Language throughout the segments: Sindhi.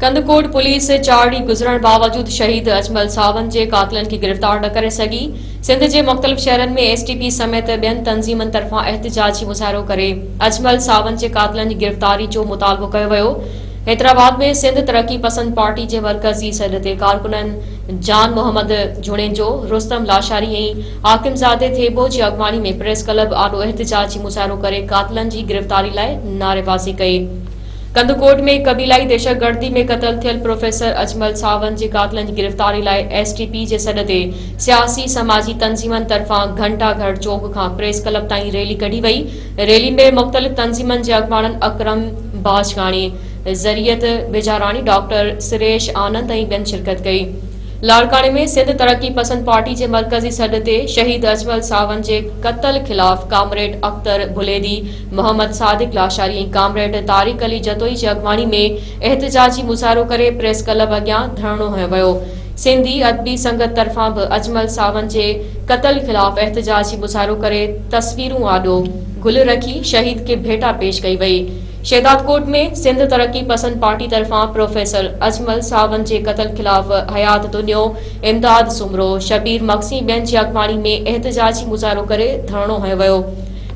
ڪنڌڪوٽ پوليس چار ڏينهن گذرڻ باوجود شهيد اجمل ساون جي قاتلن کي گرفتار نه ڪري سگهي، سنڌ جي مختلف شهرن ۾ ايس ٽي پي سميت ٻين تنظيمن طرفان احتجاجي مظاهرو ڪري اجمل ساون جي قاتلن جي گرفتاري جو مطالبو ڪيو ويو، حيدرآباد ۾ سنڌ ترقي پسند پارٽي جي مرڪزي سڏ تي ڪارڪنن جان محمد جوڻيجو، رستم لاشاري ۽ حاڪم زادي ٿيٻو جي اڳواڻي ۾ پريس ڪلب آڏو احتجاجي مظاهرو ڪري قاتلن جي گرفتاري لاء نعريبازي ڪئي. ڪنڌڪوٽ ۾ قبيلائي دهشتگردي ۾ قتل ٿيل پروفيسر اجمل ساوند جي قاتلن جي گرفتاري لاء ايس ٽي پي جي سڏ تي سياسي سماجي تنظيمن طرفان گهنٽا گهر چوڪ کان پريس ڪلب تائين ريلي ڪڍي وئي ريلي ۾ مختلف تنظيمن جي اڳواڻن اڪرم باجڪاڻي ذريعت بيجاراڻي ڊاڪٽر سريش آنند ۽ ٻين شرڪت ڪئي لاڙڪاڻي ۾ سنڌ ترقي پسند پارٽي جي مرڪزي سڏ تي شهيد اجمل ساوند جي قتل خلاف ڪامريڊ اختر ڀليدي محمد صادق لاشاري ۽ ڪامريڊ طارق علي جتوئي جي اڳواڻي ۾ احتجاجي مظاهرو ڪري پريس ڪلب اڳيان ڌرڻو هنيو ويو. سنڌي ادبي سنگت طرفان به اجمل ساوند جي قتل خلاف احتجاجي مظاهرو ڪري تصويرون آڏو گل رکي شهيد کي ڀيٽا پيش ڪئي وئي. شهدادڪوٽ ۾ سنڌ ترقي پسند پارٽي طرفان پروفيسر اجمل ساوند جي قتل خلاف حيات دنيو، امداد سومرو، شبير مگسي ٻين جي اڳواڻي ۾ احتجاجي مظاهرو ڪري ڌرڻو هنيو ويو.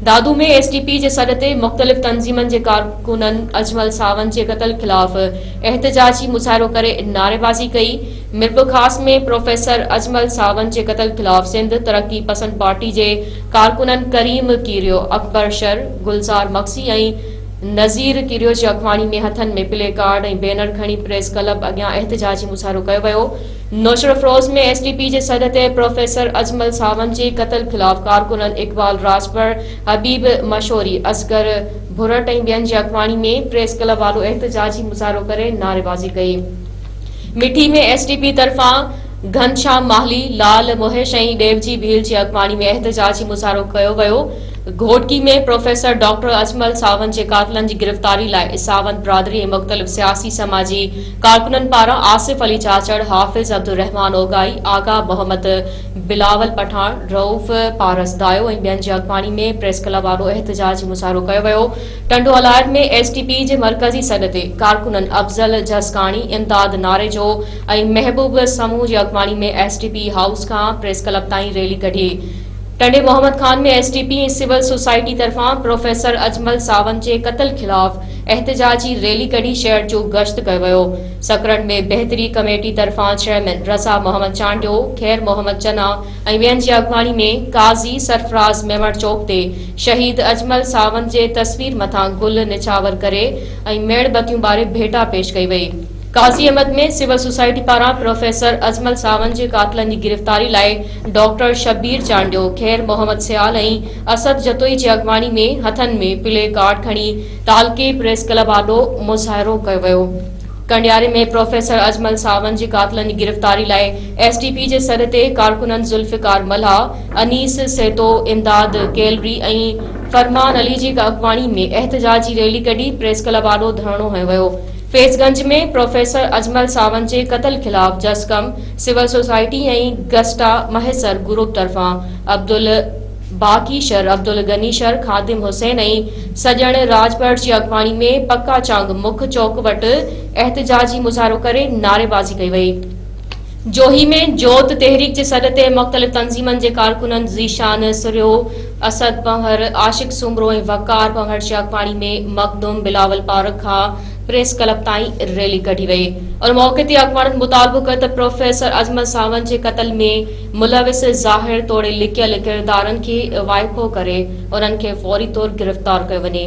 دادو ۾ ايس ڊي پي جي سڏ تي مختلف تنظيمن جي ڪارڪنن اجمل ساوند جي قتل خلاف احتجاجي مظاهرو ڪري نعريبازي ڪئي، ميرپورخاص ۾ پروفيسر اجمل ساوند جي قتل خلاف سنڌ ترقي پسند پارٽي جي ڪارڪنن ڪريم ڪيريو، اڪبر شر، گلزار مگسي ۽ نذير ڪيريو جي اڳواڻي ۾ هٿن ۾ پلي ڪارڊ ۽ بينر کڻي پريس ڪلب اڳيان احتجاجي مظاهرو ڪيو ويو، نوشھرافروز ۾ ايس ڊي پي جي سڏ تي پروفيسر اجمل ساوند جي قتل خلاف ڪارڪنن اقبال راڄپر، حبيب مشوري، اصغر ڀرٽ ۽ ٻين جي اڳواڻي ۾ پريس ڪلب وارو احتجاجي مظاھرو ڪري نعريبازي ڪئي. مٺي ۾ ايس ڊي پي طرفان گھنشام ماھلي، لال مھيش ۽ ڏيوجي ڀيل جي اڳواڻي ۾ احتجاجي مظاھرو ڪيو ويو. گھوٽڪي ۾ پروفيسر ڊاڪٽر اجمل ساوند جي قاتلن جي گرفتاري لاء ساوند برادري ۽ مختلف سياسي سماجي ڪارڪنن پاران آصف علي چاچڙ، حافظ عبدالرحمان اوڳائي، آغا محمد، بلاول پٺاڻ، رئوف پارس دايو ۽ ٻين جي اڳواڻي ۾ پريس ڪلب آڏو احتجاجي مظاهرو ڪيو ويو. Tando Allahyar ۾ S T P جي مرڪزي سڏ تي ڪارڪنن افضل جسڪاڻي، امداد ناريجو ۽ محبوب سمون جي اڳواڻي ۾ ايس ٽي پي هائوس کان پريس ڪلب تائين ريلي ڪڍي. ٽنڊي Muhammad Khan ۾ S T P ۽ civil society طرفان پروفيسر اجمل ساوند جي قتل خلاف احتجاجي ريلي ڪڍي شهر جو گشت ڪيو ويو. سڪرنڊ ۾ بهتري ڪميٽي طرفان چيئرمين رضا محمد چانڊيو، خير محمد چنا ۽ ٻين جي اڳواڻي ۾ قاضي سرفراز ميمڻ چوڪ تي شهيد اجمل ساوند جي تصوير مٿان گل نڇاور ڪري ۽ ميڻ بتيون ٻاري ڀيٽا پيش ڪئي وئي. قاضي احمد ۾ سول سوسائٽي پاران پروفيسر اجمل ساوند جي قاتلن جي گرفتاري لاء ڊاڪٽر شبير چانڊيو، خير محمد سيال ۽ اسد جتوئي جي اڳواڻي ۾ هٿن ۾ پلي ڪارڊ کڻي تعلقي پريس ڪلب آڏو مظاهرو ڪيو ويو. ڪنڊياري ۾ پروفيسر اجمل ساوند جي قاتلن جي گرفتاري لاء ايس ٽي پي جي سڏ تي ڪارڪنن ذوالفقار ملاح، انيس سيتو، امداد ڪيلري ۽ فرمان علي جي اڳواڻي ۾ احتجاجي ريلي ڪڍي پريس ڪلب آڏو ڌرڻو هنيو ويو. فيض گنج ۾ پروفيسر اجمل ساوند جي قتل خلاف جسقم، سول سوسائٽي ۽ گسٽا مهيسر گروپ طرفان عبدل. باقي شھر عبدالغني شھر خادم حسين ۽ سڄڻ راڄپر جي اڳواڻي ۾ پڪا چانگ مک چوڪ وٽ احتجاجي مظاھرو ڪري نعريبازي ڪئي وئي. جوھي ۾ جوت تحريڪ جي سڏ تي مختلف تنظيمن جي ڪارڪنن ذيشان سھريو، اسد پنھور، عاشق سومرو ۽ وقار پنھور جي اڳواڻي ۾ مخدوم بلاول پارڪ کان پريس ڪلب تائين ريلي ڪڍي وئي ان موقعي تي اڳواڻن مطالبو ڪيو ته پروفيسر عظمت ساوند جي قتل ۾ ملوث ظاهر توڙي لڪيل ڪردارن کي وائکو ڪري انهن کي فوري طور گرفتار ڪيو وڃي.